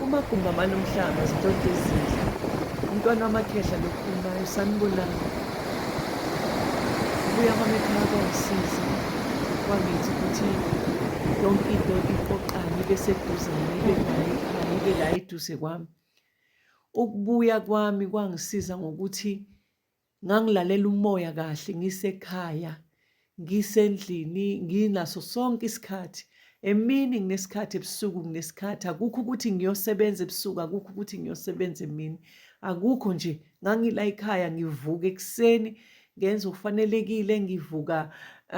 Umagumba manomhlaba zidoda ezinhle. Umntwana wamakhehla lokhulumayo sanibonani. Ubuya kwamekhaya kwangisiza kwangithi ukuthi yonke into iqoqane ibe seduzane ibe nayo ikhaya ibe la eduze kwami. Ukubuya kwami kwangisiza ngokuthi Ngangilalela umoya kahle ngisekhaya, ngisendlini, nginaso sonke isikhathi. Emini nginesikhathi, ebusuku nginesikhathi. Akukho ukuthi ngiyosebenza ebusuku, akukho ukuthi ngiyosebenza emini. Akukho nje, ngangila ekhaya ngivuka ekuseni ngenze okufanelekile, ngivuka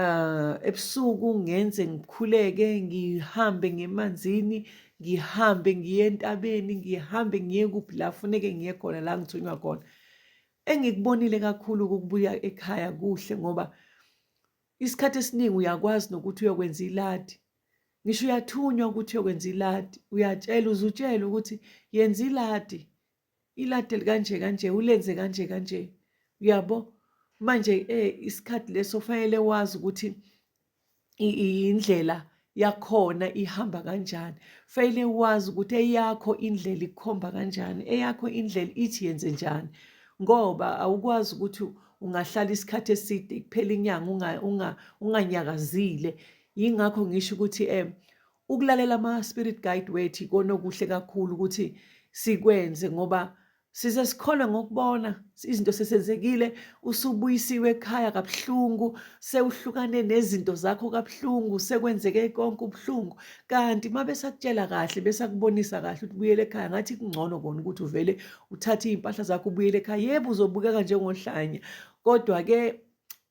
uh, ebusuku ngenze ngikhuleke, ngihambe ngemanzini, ngihambe ngiye entabeni, ngihambe ngiye kuphi la funeke ngiye khona la ngithunywa khona. Engikubonile kakhulu ukubuya ekhaya kuhle ngoba isikhathi esiningi uyakwazi nokuthi uyokwenza iladi ngisho uyathunywa ukuthi uyokwenza iladi uyatshelwa uzutshelwe ukuthi yenza iladi iladi elikanje kanje ulenze kanje kanje uyabo manje eh isikhathi leso fanele wazi ukuthi indlela yakhona ihamba kanjani fanele wazi ukuthi eyakho indlela ikhomba kanjani eyakho indlela ithi yenze njani ngoba awukwazi ukuthi ungahlala isikhathi eside kuphela inyanga unganyakazile yingakho ngisho ukuthi um ukulalela ama-spirit guide wethu konokuhle kakhulu ukuthi sikwenze ngoba size sikholwe ngokubona izinto sesenzekile usubuyisiwe ekhaya kabuhlungu sewuhlukane nezinto zakho kabuhlungu sekwenzeke konke ubuhlungu kanti uma besakutshela kahle besakubonisa kahle ukuthi buyele ekhaya ngathi kungcono kona ukuthi uvele uthathe iy'mpahla zakho ubuyele ekhaya yebo uzobukeka njengohlanya kodwa-ke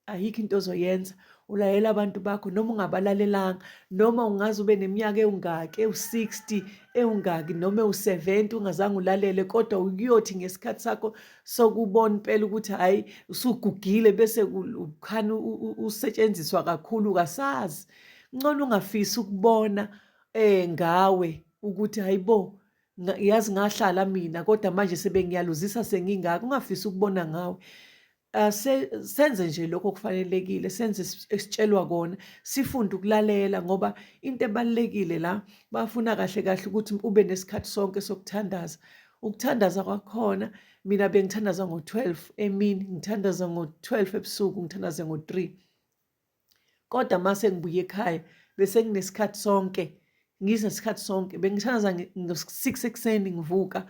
ayikho into ozoyenza ulayela abantu bakho noma ungabalalelanga noma ungaze ube neminyaka ewungaki ewu-60 ewungaki noma ewu-70 ungazange ulalele kodwa ukuyothi ngesikhathi sakho sokubona impela ukuthi hhayi usugugile bese ukhani usetshenziswa kakhulu kasazi ngcono ungafisi ukubona um ngawe ukuthi hhayi bo yazi ngahlala mina kodwa manje sebengiyaluzisa sengingaka ungafisi ukubona ngawe Ah, senze nje lokho kufanelekile, senze esitshelwa kona, sifunde ukulalela ngoba into ebalulekile la bafuna kahle kahle ukuthi ube nesikhathi sonke sokuthandaza. Ukuthandaza kwakhona mina bengithandaza ngo-twelve emini, ngithandaza ngo-twelve ebusuku, ngithandaze ngo-three. kodwa mase ngibuye ekhaya bese nginesikhathi sonke ngize isikhathi sonke bengithandaza ngo-six ekuseni ngivuka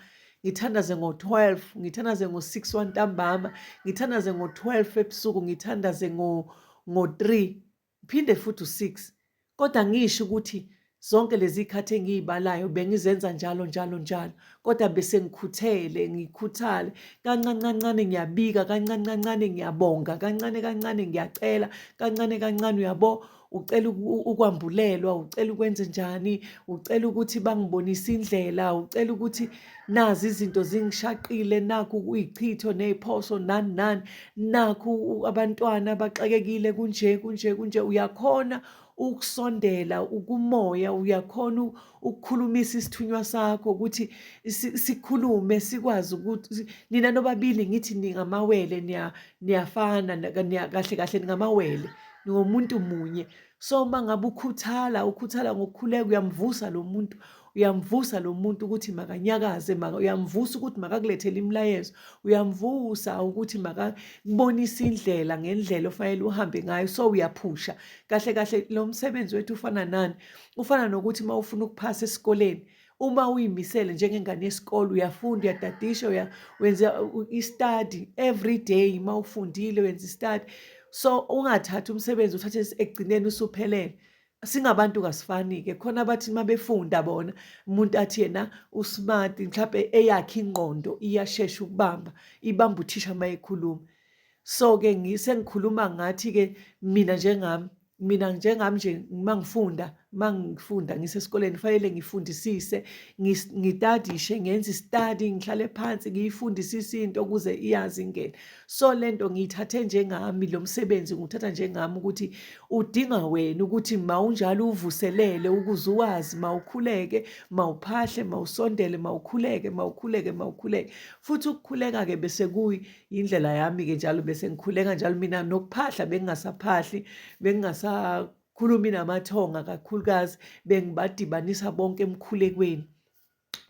ngithandaze ngo-twelve ngithandaze ngo-six wantambama ngithandaze ngo-twelve ebusuku ngithandaze ngo-three phinde futhi u-six kodwa ngisho ukuthi Zonke lezi khathi engiyibalayo bengizenza njalo njalo njalo kodwa bese ngikhuthele ngikhuthale kancane kancane ngiyabika kancane kancane ngiyabonga kancane kancane ngiyacela kancane kancane uyabo ucela ukwambulelwa ucela ukwenze njani ucela ukuthi bangibonise indlela ucela ukuthi nazi izinto zingishaqile nakhu kuyichitho neziphoso nani nani nakhu abantwana baxakekile kunje kunje kunje uyakhona ukusondela ukumoya uyakhona ukukhulumisa isithunywa sakho ukuthi sikhulume sikwazi ukuthi nina nobabili ngithi ningamawele niyafana kahle kahle ningamawele ningomuntu munye so uma ngabe ukhuthala ukhuthala ngokukhuleka uyamvusa lo muntu uyamvusa lo muntu ukuthi makanyakaze maka uyamvusa ukuthi makakulethele imilayezo uyamvusa ukuthi makakubonise indlela ngendlela ofanele uhambe ngayo so uyaphusha kahle kahle lo msebenzi wethu ufana nani ufana nokuthi uma ufuna ukuphasa esikoleni uma uyimisele njengengane yesikole uyafunda uyadadisha uya wenza i-study every day uma ufundile wenza i-study so ungathathi umsebenzi uthathe ekugcineni usuphelele singabantu kasifani-ke khona abathi uma befunda bona umuntu athi yena usmart mhlawumbe eyakhe ingqondo iyashesha ukubamba ibamba uthisha uma ekhuluma so-ke sengikhuluma ngathi-ke mina njengami mina njengami nje uma ngifunda uma ngifunda ngisesikoleni kufanele ngifundisise ngitadishe ngenze istadi ngihlale phansi ngiyifundisise into ukuze iyazi ingene so lento ngiyithathe njengami lo msebenzi nguthatha njengami ukuthi udinga wena ukuthi mawunjalo uvuselele ukuze uwazi mawukhuleke mawuphahle mawusondele mawukhuleke mawukhuleke mawukhuleke futhi ukukhuleka ke bese kuyi indlela yami ke njalo bese ngikhuleka njalo mina nokuphahla bengingasaphahli bengingasakhulumi namathonga kakhulukazi bengibadibanisa bonke emkhulekweni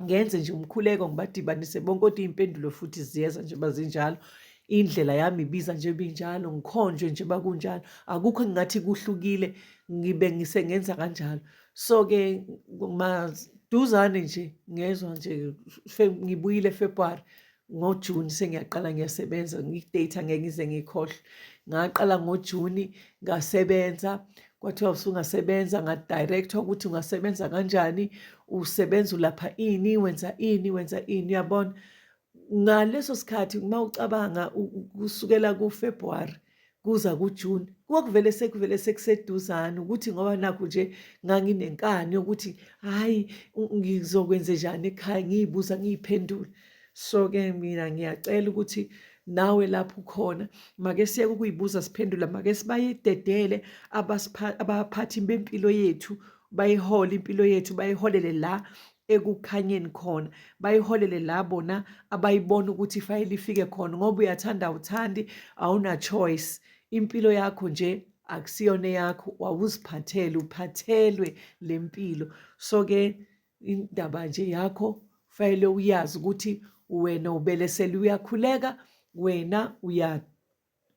ngenze nje umkhuleko ngibadibanise bonke kodwa iy'mpendulo futhi ziyeza nje bazinjalo indlela yami ibiza nje binjalo ngikhonjwe nje bakunjalo akukho engingathi kuhlukile ngibe ngisengenza kanjalo so-ke maduzane nje ngezwa nje ngibuyile february ngojuni sengiyaqala ngiyasebenza ngidata ngeke ngize ngikhohlwe ngaqala ngojuni ngasebenza kwathiwa usungasebenza ngadirectwa ukuthi ungasebenza kanjani usebenza ulapha ini wenza ini wenza ini uyabona ngaleso sikhathi uma ucabanga kusukela kufebruwari kuza kujuni kwakuvele sekuvele sekuseduzane ukuthi ngoba nakho nje nganginenkani yokuthi hhayi ngizokwenze njani ekhaya ngiyibuza ngiyiphendule so-ke mina ngiyacela ukuthi nawe lapho ukhona make siyeke ukuyibuza siphendula make sibayededele abaphathi bempilo yethu bayihole impilo yethu bayiholele la ekukhanyeni khona bayiholele la bona abayibona ukuthi ifayele ifike khona ngoba uyathanda awuthandi awuna-choice impilo yakho nje akusiyona eyakho wawuziphathele uphathelwe le mpilo so-ke indaba nje yakho fanele uyazi ukuthi wena ubelesele uyakhuleka wena uya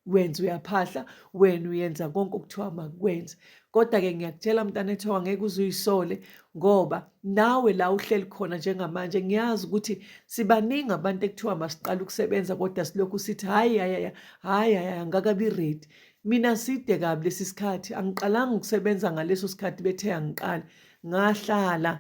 wenza uyaphahla wena uyenza konke okuthiwa makwenze kodwa-ke ngiyakutshela mntana ethiwa ngeke uze uyisole ngoba nawe la uhleli khona njengamanje ngiyazi ukuthi sibaningi abantu ekuthiwa masiqala ukusebenza kodwa silokhu sithi hhayi hayaya hhayi hayaya ngakabi ready mina side kabi lesi sikhathi angiqalanga ukusebenza ngaleso sikhathi bethe angiqala ngahlala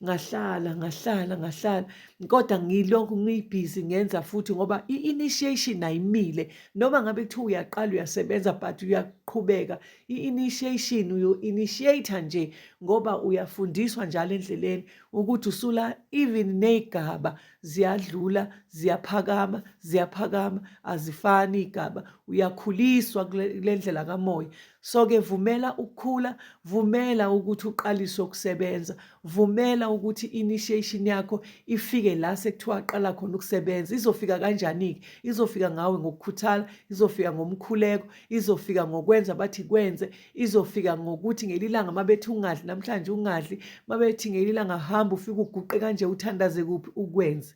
ngahlala ngahlala ngahlala kodwa ngilokhu ngiyibhizi ngenza futhi ngoba i-initiation ayimile noma ngabe kuthiwa uyaqala uyasebenza but uyaqhubeka i-initiation uyo-initiate nje ngoba uyafundiswa njalo endleleni ukuthi usula even ney'gaba ziyadlula ziyaphakama ziyaphakama azifani iy'gaba uyakhuliswa kule ndlela kamoya So-ke vumela ukukhula, vumela ukuthi uqalise ukusebenza, vumela ukuthi i-initiation yakho ifike la sekuthiwa qala khona ukusebenza. Izofika kanjani-ke? Izofika ngawe ngokukhuthala, izofika ngomkhuleko, izofika ngokwenza bathi kwenze, izofika ngokuthi ngelinye ilanga uma bethi ungadli namhlanje ungadli, uma bethi ngelinye ilanga hamba ufike uguqe kanje uthandaze kuphi ukwenze.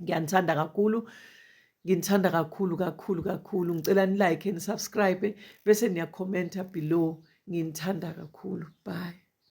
ngiyanithanda kakhulu nginithanda kakhulu kakhulu kakhulu ngicela nilike nisubscribe bese niyakhomenta below nginithanda kakhulu bye